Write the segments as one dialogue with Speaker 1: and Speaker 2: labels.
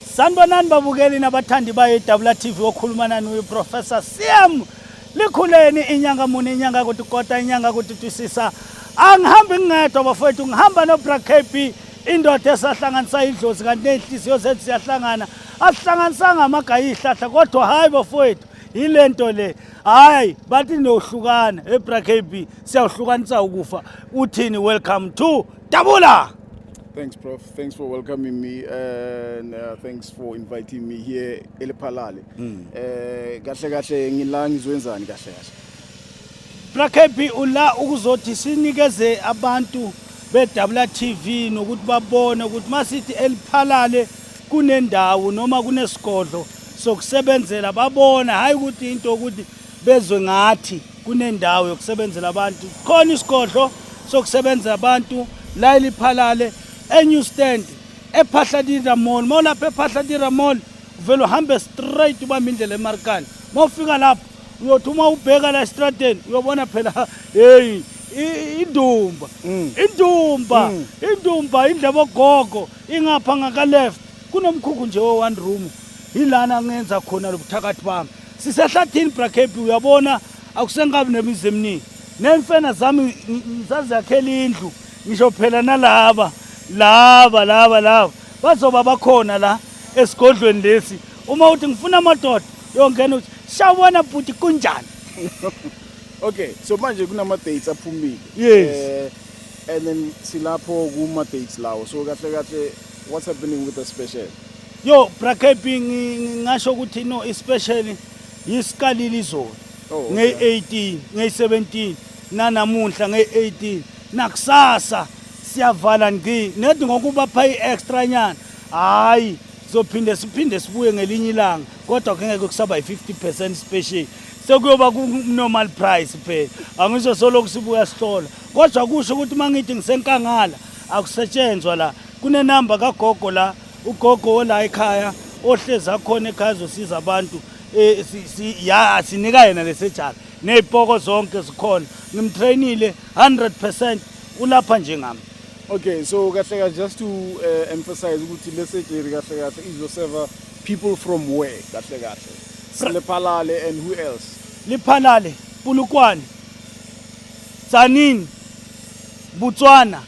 Speaker 1: Sanibonani babukeli nabathandi bayo iDabula TV okhuluma nani uyiProfessor Siam likhuleni inyanga muni inyanga kuthi kota inyanga kuthi twisisa angihambi ngingedwa bafowethu ngihamba noBra KB indoda esahlanganisa idlozi kanti nezinhliziyo zethu siyahlangana asihlanganisanga amagayi ihlahla kodwa hayi bafowethu yile nto le hayi bathi niyohlukana ebra kb siyawuhlukanisa ukufa uthini welcome to dabula thanks prof
Speaker 2: Thanks for welcoming me and uh, thanks for inviting me here eLephalale. Mm. Eh kahle kahle ngila ngizwenzani kahle kahle.
Speaker 1: Brakebi ula ukuzothi sinikeze abantu bedabula TV nokuthi babone ukuthi masithi eliphalale kunendawo noma kunesigodlo sokusebenzela babona hayi ukuthi into ukuthi bezwe ngathi kunendawo yokusebenzela abantu khona isigodlo sokusebenzela abantu la eliphalale enew stand ephahladira mall uma ulapha ephahladira mall uvele uhambe straight ubambe indlela emarikani uma ufika lapho uyothi uma ubheka la estradeni uyobona phela heyi indumba mm. indumba mm. indumba indleba ogogo ingapha ngakaleft kunomkhukhu nje owan room yilana ngenza khona lobuthakathi bami sisehlathini brakepi uyabona akusengabi nemizi eminingi nemfena zami ngisazakhela indlu ngisho phela nalaba laba laba laba bazoba bakhona la esigodlweni lesi uma uthi ngifuna amadoda yongena uthi shawubona bhuti kunjani
Speaker 2: okay so manje kunama-dates aphumile yes eh,
Speaker 1: and then
Speaker 2: silapho kuma-dates lawo so kahle kahle what's happening with the special Yo bra
Speaker 1: KB ngingasho ukuthi no especially yisiqalile izolo oh, ngey-18 ngey-17 nanamuhla ngey-18 nakusasa siyavala ngci nedi ngokuba pha i-extra nyana hhayi sizophinde siphinde sibuye ngelinye ilanga kodwa kungeke kusaba yi-50 percent special sekuyoba ku-normal price phela angisho solokhu sibuya sihlola kodwa kusho ukuthi uma ngithi ngisenkangala akusetshenzwa la kunenamba kagogo la ugogo ola ekhaya ohlezi akhona ekhaya zosiza abantu eh, ya sinika yena lesejala ney'poko zonke zikhona ngimtrainile 100 percent ulapha njengami okay so
Speaker 2: kahle kahle just to uh, emphasize ukuthi le surgery kahle kahle izoseva people from where kahle kahle silephalale and who else liphalale
Speaker 1: pulukwane tsanini botswana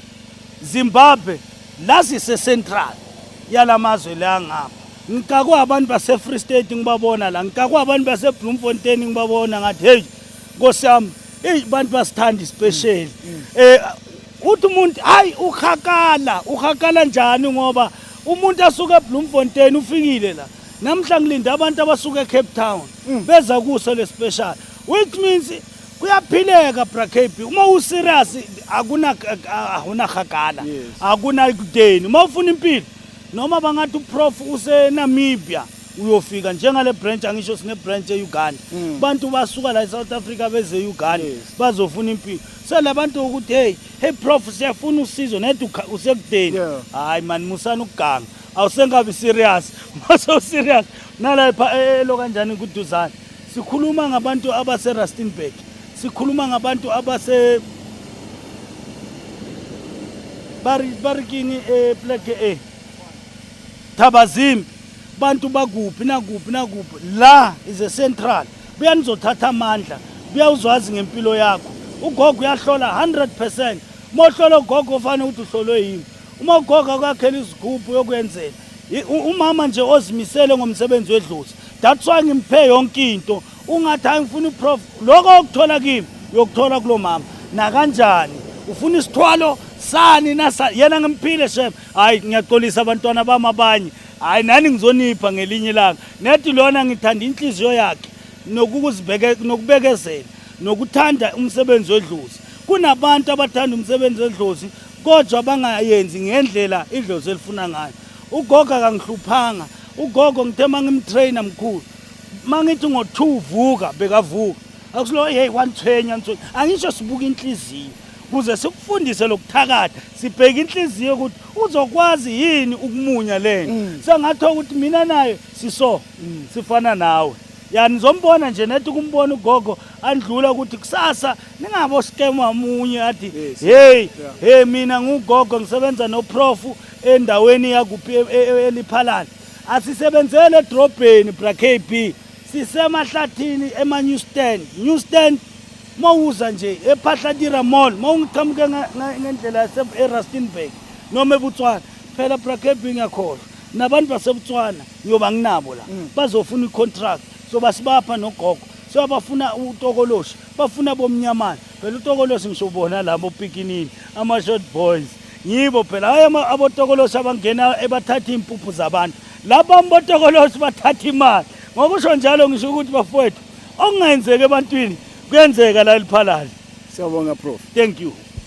Speaker 1: zimbabwe la sise-central yala mazwe la ngapha ngikakwa abantu base-free state ngibabona la ngikakwa abantu base-bloemfontein ngibabona ngathi heyi nkosi yami eyi abantu basithanda isipesheli um mm, mm. eh, uthi umuntu hayi uhakala uhakala njani ngoba umuntu asuke ebloemfontein ufikile la namhla ngilinde abantu abasuke ecape town mm. beza kuso le special Which means kuyaphileka brakb uma userious akuna awunahagala akuna kudeni uma ufuna impilo noma bangathi uprof usenamibia uyofika njengale branch angisho sine branch euganda mm. bantu basuka la esouth africa beze uganda yes. bazofuna impilo so labantu ukuthi hey hey prof siyafuna usizo nedi usekudeni hayi yeah. mani musani ukuganga awusengabi serious mase userious nala epha e, e, elo kanjani kuduzane sikhuluma ngabantu abase Rustenburg sikhuluma ngabantu abase bari bari kini e plek e Thabazimbi bantu bakuphi nakuphi nakuphi la is a central buya nizothatha amandla buya uzwazi ngempilo yakho ugogo uyahlola 100% mohlola ugogo ufane uthi uhlolwe yini Uma ugogo akwakhela izigubhu yokwenzela umama nje ozimisele ngomsebenzi wedlozi that's why ngimphe yonke into ungathi hayi ngifuna uprof lokho okuthola kimi uyokuthola kulo mama nakanjani ufuna isithwalo sani nasa yena ngimphile shem hayi ngiyaxolisa abantwana bami abanye hayi nani ngizonipha ngelinye ilanga nethi lona ngithanda inhliziyo yakhe nokubekezela nokuthanda umsebenzi wedlozi kunabantu abathanda umsebenzi wedlozi kodwa bangayenzi ngendlela idlozi elifuna ngayo ugogo akangihluphanga ugogo ngithe uma ngimtrayina mkhulu uma ngithi ngo-two vuka bekavuka akusulo yeyi wanithwenya nithwenya angisho sibuka inhliziyo kuze sikufundise lokuthakatha sibheke inhliziyo ukuthi uzokwazi yini ukumunya lento mm. sengathiwa ukuthi mina naye siso mm. sifana nawe yani zombona nje nethi kumbona ugogo andlula ukuthi kusasa ningabo scam wamunye athi hey hey mina ngugogo ngisebenza noprof endaweni yakuphi e, e, e, eliphalana asisebenzele edrobheni bra KB sisemahlathini ema new stand new stand mawuza nje ephahlatira mall mawungiqhamuke ngendlela yase eRustenburg noma eButswana phela bra KB ngiyakhohlwa nabantu baseButswana ngiyoba nginabo la mm. bazofuna icontract so basibapha nogogo so abafuna utokoloshi bafuna bomnyamana phela utokoloshi ngisho ubona labo opikinini ama-short boys yibo phela hhayi abotokoloshi abangena ebathatha iy'mpuphu zabantu laba mbotokoloshi bathatha imali ngokusho njalo ngisho ukuthi bafowethu okungenzeki ebantwini kuyenzeka la eliphalali siyabonga prof thank you